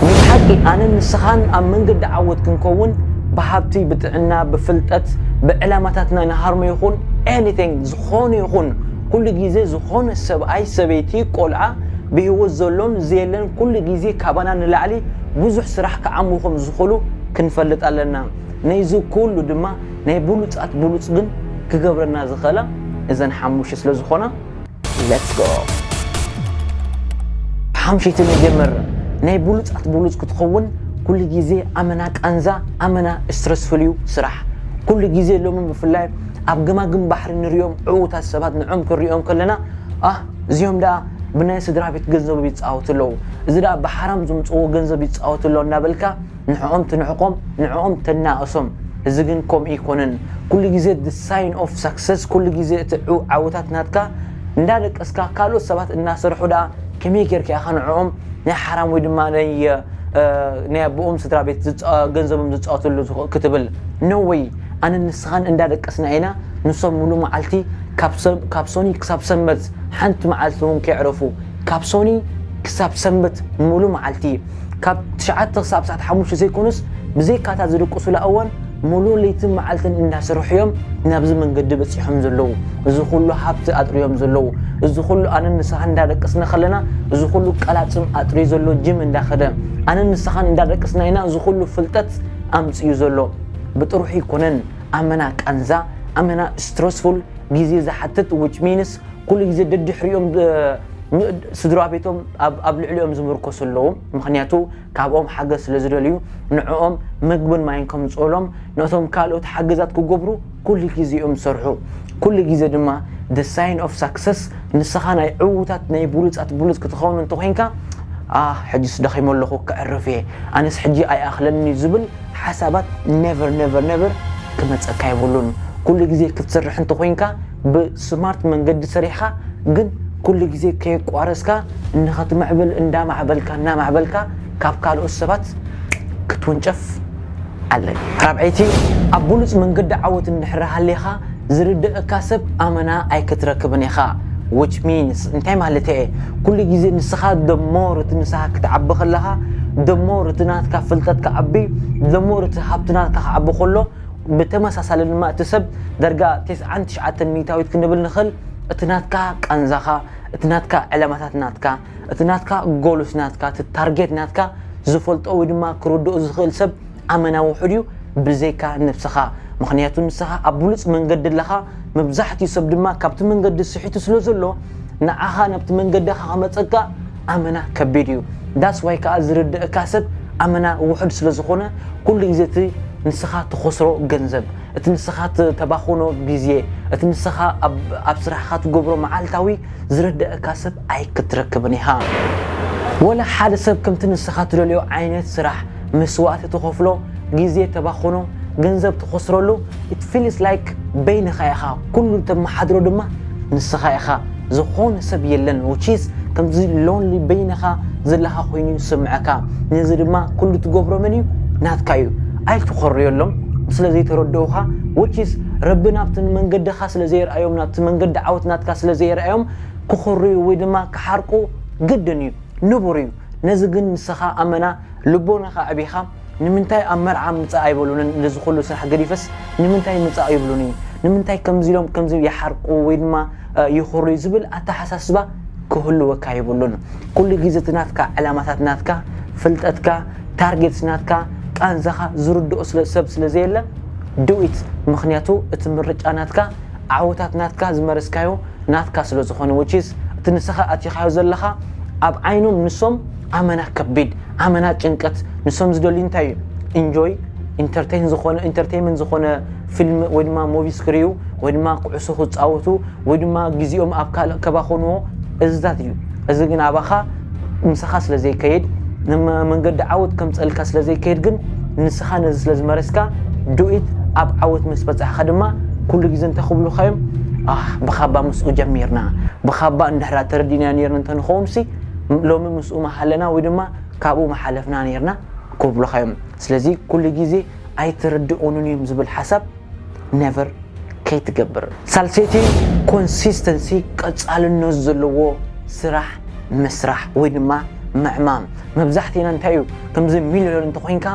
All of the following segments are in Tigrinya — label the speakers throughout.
Speaker 1: ምስ ሓቂ ኣነን ንስኻን ኣብ መንገዲ ዓወት ክንከውን ብሃብቲ ብጥዕና ብፍልጠት ብዕላማታትና ንሃርሞ ይኹን ኤኒቲንግ ዝኾነ ይኹን ኩሉ ግዜ ዝኾነ ሰብኣይ ሰበይቲ ቆልዓ ብሂወት ዘሎን ዘየለን ኩሉ ግዜ ካባና ንላዕሊ ብዙሕ ስራሕ ክዓሙ ከም ዝኽሉ ክንፈልጥ ኣለና ነይዚ ኩሉ ድማ ናይ ብሉጻት ብሉጽ ግን ክገብረና ዝኽእላ እዘን ሓሙሽተ ስለ ዝኾና ሌትስ ጎ ብሓምሸይቲ ንጀምር ናይ ብሉፃት ብሉፅ ክትኸውን ኩሉ ግዜ ኣመና ቃንዛ ኣመና ስትረስፉል እዩ ስራሕ ኩሉ ግዜ ሎሚ ብፍላይ ኣብ ገማግም ባሕሪ ንሪኦም ዕዉታት ሰባት ንዕም ክንሪኦም ከለና ኣህ እዚኦም ደኣ ብናይ ስድራ ቤት ገንዘብ ይፃወቱ ኣለዉ እዚ ደኣ ብሓራም ዝምፅዎ ገንዘብ ይፃወቱ ኣለዉ እናበልካ ንዕኦም ትንዕቆም ንዕኦም ተናእሶም እዚ ግን ኮምኡ ኣይኮነን ኩሉ ግዜ the sign of success ኩሉ ግዜ እቲ ዓወታት ናትካ እንዳደቀስካ ካልኦት ሰባት እናሰርሑ ደኣ ከመይ ጌርካ ኢኻ ንዕኦም ናይ ሓራም ወይ ድማ ናይ ናይ ኣቦኦም ስድራ ቤት ገንዘቦም ዝፃወትሉ ክትብል ነወይ ኣነ ንስኻን እንዳደቀስና ኢና ንሶም ሙሉ መዓልቲ ካብ ሶኒ ክሳብ ሰንበት ሓንቲ መዓልቲ እውን ከይዕረፉ ካብ ሶኒ ክሳብ ሰንበት ምሉ መዓልቲ ካብ ትሽዓተ ክሳብ ሰዓት ሓሙሽተ ዘይኮኑስ ብዘይካታ ዝድቅሱላ እዋን ምሉ ለይትን መዓልትን እንዳሰርሑ እዮም ናብዚ መንገዲ በጺሖም ዘለዉ እዚ ኩሉ ሃብቲ ኣጥርዮም ዘለዉ እዚ ኩሉ ኣነን ንስኻን እንዳደቀስና ከለና እዚ ኩሉ ቀላጽም ኣጥርዩ ዘሎ ጅም እንዳኸደ ኣነን ንስኻን እንዳደቀስና ኢና እዚ ኩሉ ፍልጠት ኣምጽዩ ዘሎ ብጥሩሑ ኣይኮነን ኣመና ቃንዛ ኣመና ስትረስፉል ግዜ ዝሓትት ዊች ሚንስ ኩሉ ግዜ ደድሕሪኦም ስድራቤቶም ኣብ ልዕሊኦም ዝምርኮሱ ኣለዉ ምኽንያቱ ካብኦም ሓገዝ ስለ ዝደልዩ ንዕኦም መግብን ማይን ከምጽኡሎም ነቶም ካልኦት ሓገዛት ክገብሩ ኩሉ ግዜ እዮም ዝሰርሑ ኩሉ ግዜ ድማ the sign of success ንስኻ ናይ ዕዉታት ናይ ብሉጻት ብሉጽ ክትኸውን እንተኾይንካ ኣህ ሕጅስ ደኺሞ ኣለኹ ክዕርፍ እየ ኣነስ ሕጂ ኣይኣኽለኒ ዝብል ሓሳባት ነቨር ነቨር ነቨር ክመፀካ የብሉን ኩሉ ግዜ ክትሰርሕ እንተኾይንካ ብስማርት መንገዲ ሰሪሕኻ ግን ኩሉ ግዜ ከየቋረፅካ ንኽትምዕብል እንዳማዕበልካ እናማዕበልካ ካብ ካልኦት ሰባት ክትውንጨፍ ኣለካ። ራብዐይቲ ኣብ ብሉፅ መንገዲ ዓወት እንድሕር ሃሊኻ ዝርደኣካ ሰብ ኣመና ኣይክትረክብን ኢኻ which means እንታይ ማለተይ እየ ኩሉ ግዜ ንስኻ the more እቲ ምሳኻ ክትዓቢ ከለኻ the more እቲ ናትካ ፍልጠት ክዓቢ the more እቲ ሃብቲ ናትካ ክዓቢ ከሎ ብተመሳሳሊ ድማ እቲ ሰብ ደርጋ ቴስዓን ትሽዓተን ሚታዊት ክንብል ንኽል እቲ ናትካ ቃንዛኻ እቲ ናትካ ዕላማታት ናትካ እቲ ናትካ ጎሉስ ናትካ እቲ ታርጌት ናትካ ዝፈልጦ ወይ ድማ ክርድኦ ዝኽእል ሰብ ኣመና ውሑድ እዩ ብዘይካ ነብስኻ ምክንያቱ ንስኻ ኣብ ብሉፅ መንገዲ ኣለኻ መብዛሕትኡ ሰብ ድማ ካብቲ መንገዲ ስሒቱ ስለ ዘሎ ንዓኻ ናብቲ መንገድኻ ከመፀካ ኣመና ከቢድ እዩ ዳስ ዋይ ከኣ ዝርደኣካ ሰብ ኣመና ውሑድ ስለ ዝኮነ ኩሉ ግዜ እቲ ንስካ ትከስሮ ገንዘብ እቲ ንስካ ተባክኖ ግዜ እቲ ንስካ ኣብ ስራሕካ ትገብሮ መዓልታዊ ዝርደኣካ ሰብ ኣይክትረክብን ኢካ ወላ ሓደ ሰብ ከምቲ ንስካ ትደልዮ ዓይነት ስራሕ መስዋእቲ ትኸፍሎ ግዜ ተባኽኖ ገንዘብ ትኸስረሉ it feels like በይንኻ ኢኻ ኩሉ እተመሓድሮ ድማ ንስኻ ኢኻ ዝኾነ ሰብ የለን which is ከምዚ lonely በይንኻ ዘለኻ ኮይኑ ዝስምዐካ ነዚ ድማ ኩሉ ትገብሮ መን እዩ ናትካ እዩ ኣይትኾርዮሎም ስለ ዘይተረድኡኻ which is ረቢ ናብቲ ንመንገድኻ ስለ ዘየርኣዮም ናብቲ መንገዲ ዓወት ናትካ ስለ ዘየርኣዮም ክኾርዩ ወይ ድማ ክሓርቁ ግድን እዩ ንቡር እዩ ነዚ ግን ንስኻ ኣመና ልቦናኻ ኣዕቢኻ ንምንታይ ኣብ መርዓ ምጻእ ኣይበሉንን ነዚ ኩሉ ስራሕ ገዲፈስ ንምንታይ ምጻእ ይብሉኒ ንምንታይ ከምዚ ኢሎም ከምዚ ይሓርቁ ወይ ድማ ይኹርዩ ዝብል ኣተሓሳስባ ክህልወካ ይብሉን ኩሉ ግዜ እቲ ናትካ ዕላማታት ናትካ ፍልጠትካ ታርጌትስ ናትካ ቃንዛኻ ዝርድኦ ስለ ሰብ ስለ ዘየለ ድዊት ምክንያቱ እቲ ምርጫ ናትካ ዓወታት ናትካ ዝመረስካዮ ናትካ ስለ ዝኾነ ውቺስ እቲ ንስኻ ኣቲኻዮ ዘለኻ ኣብ ዓይኖም ንሶም ኣመና ከቢድ ኣመና ጭንቀት ንሶም ዝደልዩ እንታይ እዩ እንጆይ ኢንተርተይን ዝኾነ ኢንተርተይመንት ዝኾነ ፊልም ወይ ድማ ሞቪስ ክሪኡ ወይ ድማ ኩዕሶ ክፃወቱ ወይ ድማ ግዜኦም ኣብ ካልእ ከባኾንዎ እዝታት እዩ እዚ ግን ኣባኻ ምሳኻ ስለ ዘይከይድ ንመንገዲ ዓወት ከምፀልካ ስለ ዘይከይድ ግን ንስኻ ነዚ ስለ ዝመረስካ ዱኢት ኣብ ዓወት ምስ በፃሕኻ ድማ ኩሉ ግዜ እንታይ ክብሉኻ እዮም ብኻባ ምስኡ ጀሚርና ብኻባ እንድሕራ ተረዲናዮ ነይርና እንተንኸውንሲ ሎሚ ምስኡ ምሃለና ወይ ድማ ካብኡ ምሓለፍና ነርና ክብሉኻ እዮም ስለዚ ኩሉ ግዜ ኣይትርድኡንን እዮም ዝብል ሓሳብ ነቨር ከይትገብር ሳልሰይቲ ኮንሲስተንሲ ቀጻልነት ዘለዎ ስራሕ ምስራሕ ወይ ድማ ምዕማም መብዛሕትኤና እንታይ እዩ ከምዚ ሚሊዮነር እንተኮይንካ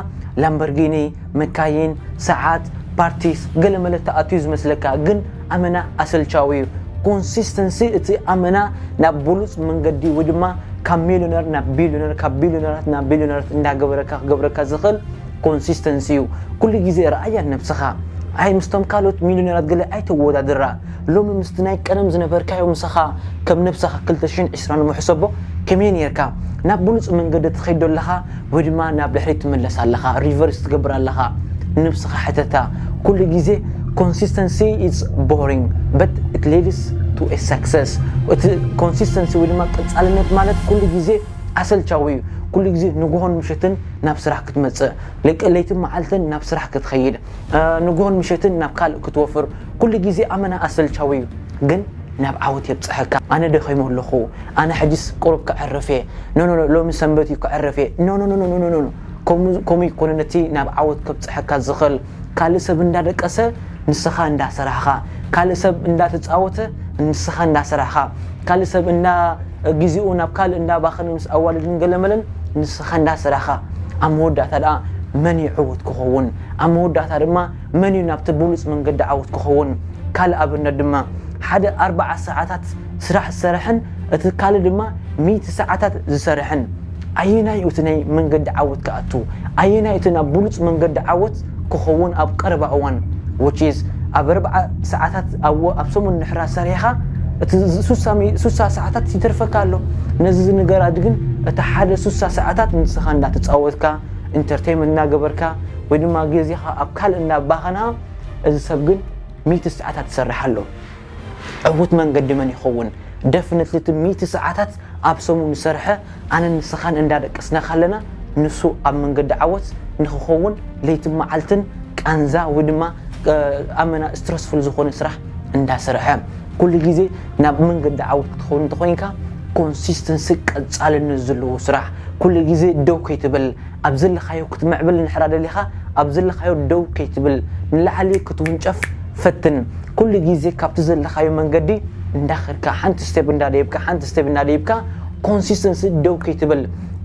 Speaker 1: ላምበርጊኒ መካይን ሰዓት ፓርቲስ ገለ መለ ተኣትዩ ዝመስለካ ግን ኣመና ኣሰልቻዊ እዩ ኮንሲስተንሲ እቲ ኣመና ናብ ብሉፅ መንገዲ ወይ ድማ ካብ ሚሊዮነር ናብ ቢሊዮነር ካብ ቢሊዮነራት ናብ ቢሊዮነራት እንዳገበረካ ክገብረካ ዝኽእል ኮንሲስተንሲ እዩ ኩሉ ግዜ ረኣያ ነብስኻ ኣይ ምስቶም ካልኦት ሚሊዮነራት ገለ ኣይተወዳድራ ሎሚ ምስቲ ናይ ቀደም ዝነበርካዮ ምሳኻ ከም ነብስኻ 220 ንምሕሰቦ ከመይ ነርካ ናብ ብሉፅ መንገዲ ትኸይዶ ኣለኻ ወይ ድማ ናብ ድሕሪት ትምለስ ኣለኻ ሪቨርስ ትገብር ኣለኻ ንብስኻ ሕተታ ኩሉ ግዜ ኮንሲስተንሲ ኢትስ ቦሪንግ በት ኢት ሊድስ ቱ ኤ ሰክሰስ እቲ ኮንሲስተንሲ ወይ ድማ ቀፃልነት ማለት ኩሉ ግዜ ኣሰልቻዊ እዩ ኩሉ ግዜ ንጉሆን ምሸትን ናብ ስራሕ ክትመፅእ ለይቲ መዓልትን ናብ ስራሕ ክትኸይድ ንጉሆን ምሸትን ናብ ካልእ ክትወፍር ኩሉ ግዜ ኣመና ኣሰልቻዊ እዩ ግን ናብ ዓወት የብጽሐካ ኣነ ደኺመ ኣለኹ ኣነ ሕጂስ ቁሩብ ከዕርፍ እየ ኖኖኖ ሎሚ ሰንበት እዩ ከዕርፍ እየ ኖኖኖኖኖኖኖ ከምኡ ከምኡ ኣይኮነን እቲ ናብ ዓወት ከብጽሐካ ዝኽእል ካልእ ሰብ እንዳደቀሰ ንስኻ እንዳሰራሕኻ ካልእ ሰብ እንዳተጻወተ ንስኻ እንዳሰራሕኻ ካልእ ሰብ እንዳ ግዜኡ ናብ ካልእ እንዳባኸነ ምስ ኣዋልድን ገለመለን ንስኻ እንዳሰራሕኻ ኣብ መወዳእታ ደኣ መን ይዕወት ክኸውን ኣብ መወዳእታ ድማ መን እዩ ናብቲ ብሉጽ መንገዲ ዓወት ክኸውን? ካልእ ኣብነት ድማ፣ ሓደ ኣርብዓ ሰዓታት ስራሕ ዝሰርሕን እቲ ካልእ ድማ ሚእቲ ሰዓታት ዝሰርሕን፣ ኣየናይ እዩ እቲ ናይ መንገዲ ዓወት ክኣቱ? ኣየናይ እቲ ናብ ብሉጽ መንገዲ ዓወት ክኸውን ኣብ ቀረባ እዋን? which is ኣብ ኣርብዓ ሰዓታት ኣዎ ኣብ ሰሙን ንሕራ ሰሪሕኻ እቲ ሱሳ ሱሳ ሰዓታት ይተርፈካ ኣሎ። ነዚ ዝንገራት ግን እቲ ሓደ ሱሳ ሰዓታት ንስኻ እንዳተጻወትካ፣ ኢንተርተይመንት እናገበርካ፣ ወይ ድማ ግዜኻ ኣብ ካልእ እናባኸና እዚ ሰብ ግን ሚእቲ ሰዓታት ይሰርሕ ኣሎ ዕውት መንገዲ መን ይኸውን ደፍነትሊ እቲ ሚእቲ ሰዓታት ኣብ ሰሙን ዝሰርሐ ኣነን ንስኻን እንዳደቀስና ካለና ንሱ ኣብ መንገዲ ዓወት ንኽኸውን ለይትን መዓልትን ቃንዛ ወይ ድማ ኣመና ስትረስፉል ዝኾነ ስራሕ እንዳሰርሐ ኩሉ ግዜ ናብ መንገዲ ዓወት ክትኸውን እንተኾይንካ ኮንሲስተንሲ ቀጻልነት ዘለዎ ስራሕ ኩሉ ግዜ ደው ከይትብል ኣብ ዘለኻዮ ክትምዕብል እንድሕራ ደሊኻ ኣብ ዘለኻዮ ደው ከይትብል ንላዕሊ ክትውንጨፍ ፈትን ኩሉ ግዜ ካብቲ ዘለኻዮ መንገዲ እንዳኸድካ ሓንቲ ስቴፕ እንዳደይብካ ሓንቲ ስቴፕ እንዳደይብካ ኮንሲስተንሲ ደው ከይትብል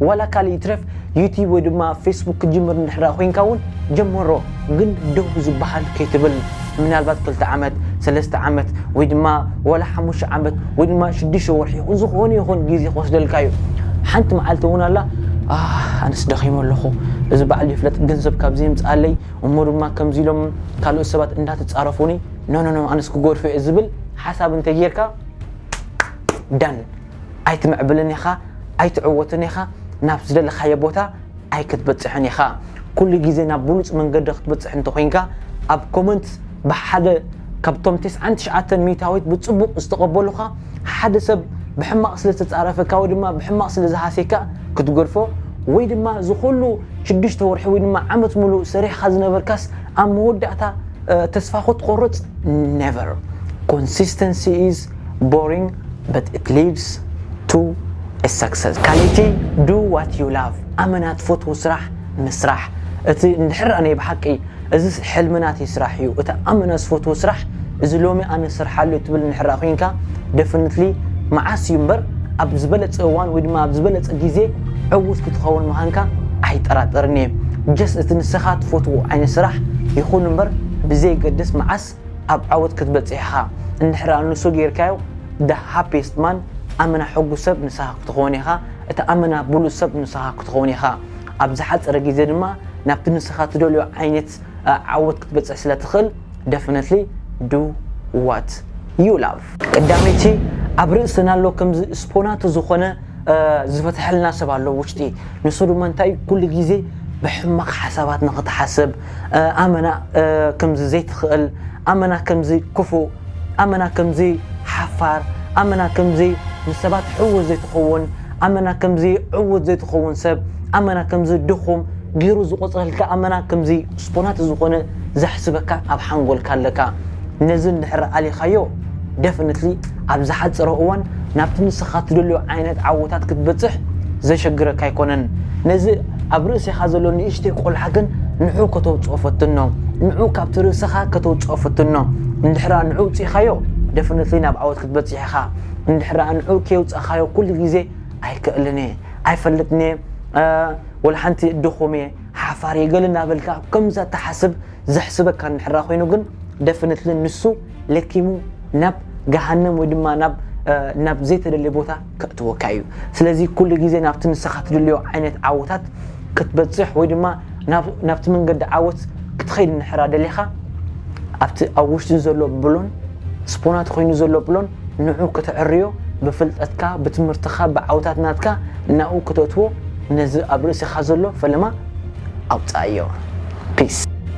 Speaker 1: ዋላ ካልእ ይትረፍ ዩቲብ ወይ ድማ ፌስቡክ ክትጅምር እንድሕራ ኮይንካ ውን ጀምሮ ግን ደው ዝባሃል ከይትብል ምናልባት ክልተ ዓመት ሰለስተ ዓመት ወይ ድማ ዋላ ሓሙሽተ ዓመት ወይ ድማ ሽዱሽተ ወርሒ ይኹን ዝኾነ ይኹን ግዜ ክወስደልካ እዩ ሓንቲ መዓልቲ እውን ኣላ ኣህ ኣነስ ደኺመ ኣለኹ እዚ ባዕሉ ይፍለጥ ገንዘብ ካብ ዘይምፅኣለይ እሞ ድማ ከምዚ ኢሎም ካልኦት ሰባት እንዳተፃረፉኒ ኖኖኖ ኣነስ ክጎድፎ እየ ዝብል ሓሳብ እንተጌርካ ዳን ኣይትምዕብልን ኢኻ ኣይትዕወትን ኢኻ ናብ ዝደለኻዮ ቦታ ኣይክትበጽሕን ኢኻ ኩሉ ግዜ ናብ ብሉጽ መንገዲ ክትበጽሕ እንተኾይንካ ኣብ ኮመንት ብሓደ ካብቶም ቴስዓን ትሽዓተን ሚታዊት ብጽቡቕ ዝተቐበሉኻ ሓደ ሰብ ብሕማቕ ስለ ዝተጻረፈካ ወይ ድማ ብሕማቕ ስለ ዝሃሴካ ክትገድፎ ወይ ድማ ዝኹሉ ሽዱሽተ ወርሒ ወይ ድማ ዓመት ሙሉእ ሰሪሕኻ ዝነበርካስ ኣብ መወዳእታ ተስፋ ክትቆርጽ ነቨር ኮንሲስተንሲ ኢዝ ቦሪንግ but it leads to a success ካልእቲ do what you love ኣመና ትፈትዎ ስራሕ ምስራሕ እቲ እንድሕር ኣነ ብሓቂ እዚ ሕልሚ ናተይ ስራሕ እዩ እቲ ኣመና ዝፈትዎ ስራሕ እዚ ሎሚ ኣነ ዝሰርሓሉ ትብል እንድሕር ኮይንካ definitely መዓስ እዩ እምበር ኣብ ዝበለፀ እዋን ወይ ድማ ኣብ ዝበለፀ ግዜ ዕውት ክትኸውን ምዃንካ ኣይጠራጠርን እየ just እቲ ንስኻ ትፈትዎ ዓይነት ስራሕ ይኹን እምበር ብዘየገድስ መዓስ ኣብ ዓወት ክትበጽሕ ኢኻ እንድሕር ኣንሱ ጌርካዮ the happiest man ኣመና ሕጉስ ሰብ ንስኻ ክትኾን ኢኻ እቲ ኣመና ብሉጽ ሰብ ንስኻ ክትኾን ኢኻ ኣብ ዝሓጸረ ግዜ ድማ ናብቲ ንስኻ ትደልዮ ዓይነት ዓወት ክትበጽሕ ስለ ትኽእል definitely do what you love። ቀዳመይቲ ኣብ ርእስና ኣሎ ከምዚ ስፖናቱ ዝኾነ ዝፈትሐልና ሰብ ኣሎ ውሽጢ ንሱ ድማ እንታይ እዩ ኩሉ ግዜ ብሕማቕ ሓሳባት ንኽትሓስብ ኣመና ከምዚ ዘይትኽእል ኣመና ከምዚ ክፉእ ኣመና ከምዚ ሓፋር ኣመና ከምዚ ንሰባት ሕውስ ዘይትኸውን ኣመና ከምዚ ዕውት ዘይትኸውን ሰብ ኣመና ከምዚ ድኹም ገይሩ ዝቆፅረልካ ኣመና ከምዚ ስፖናት ዝኾነ ዘሕስበካ ኣብ ሓንጎልካ ኣለካ ነዚ እንድሕር ኣሊኻዮ Definitely ኣብ ዝሓጸረ እዋን ናብቲ ንስኻ ትደልዮ ዓይነት ዓወታት ክትበጽሕ ዘሸግረካ ኣይኮነን። ነዚ ኣብ ርእሴኻ ዘሎ ንእሽተይ ቆልዓ ግን ንዑ ከተውጽኦ ፈትኖ። ንዑ ካብቲ ርእሰኻ ከተውጽኦ ፈትኖ። እንድሕራ ንዑ ኣውጺእኻዮ Definitely ናብ ዓወት ክትበጽሕ ኢኻ። እንድሕራ ንዑ ከየውጻእኻዮ ኩሉ ግዜ ኣይክእልን እየ፣ ኣይፈልጥን እየ፣ ወላ ሓንቲ ድኹም እየ፣ ሓፋር እየ ገለ እናበልካ ከምዛ ትሓስብ ዘሕስበካ እንድሕራ ኮይኑ ግን Definitely ንሱ ለኪሙ ናብ ገሃነም ወይ ድማ ናብ ናብ ዘይተደልየ ቦታ ከእትወካ እዩ ስለዚ ኩሉ ግዜ ናብቲ ንስኻ ትድልዮ ዓይነት ዓወታት ክትበፅሕ ወይ ድማ ናብቲ መንገዲ ዓወት ክትኸይድ ንሕራ ደሊኻ ኣብቲ ኣብ ውሽጢ ዘሎ ብሎን ስፖናት ኮይኑ ዘሎ ብሎን ንዑ ክትዕርዮ ብፍልጠትካ ብትምህርትኻ ብዓውታት ናትካ ናብኡ ክተእትዎ ነዚ ኣብ ርእሲኻ ዘሎ ፈለማ ኣውፅኣዮ ፒስ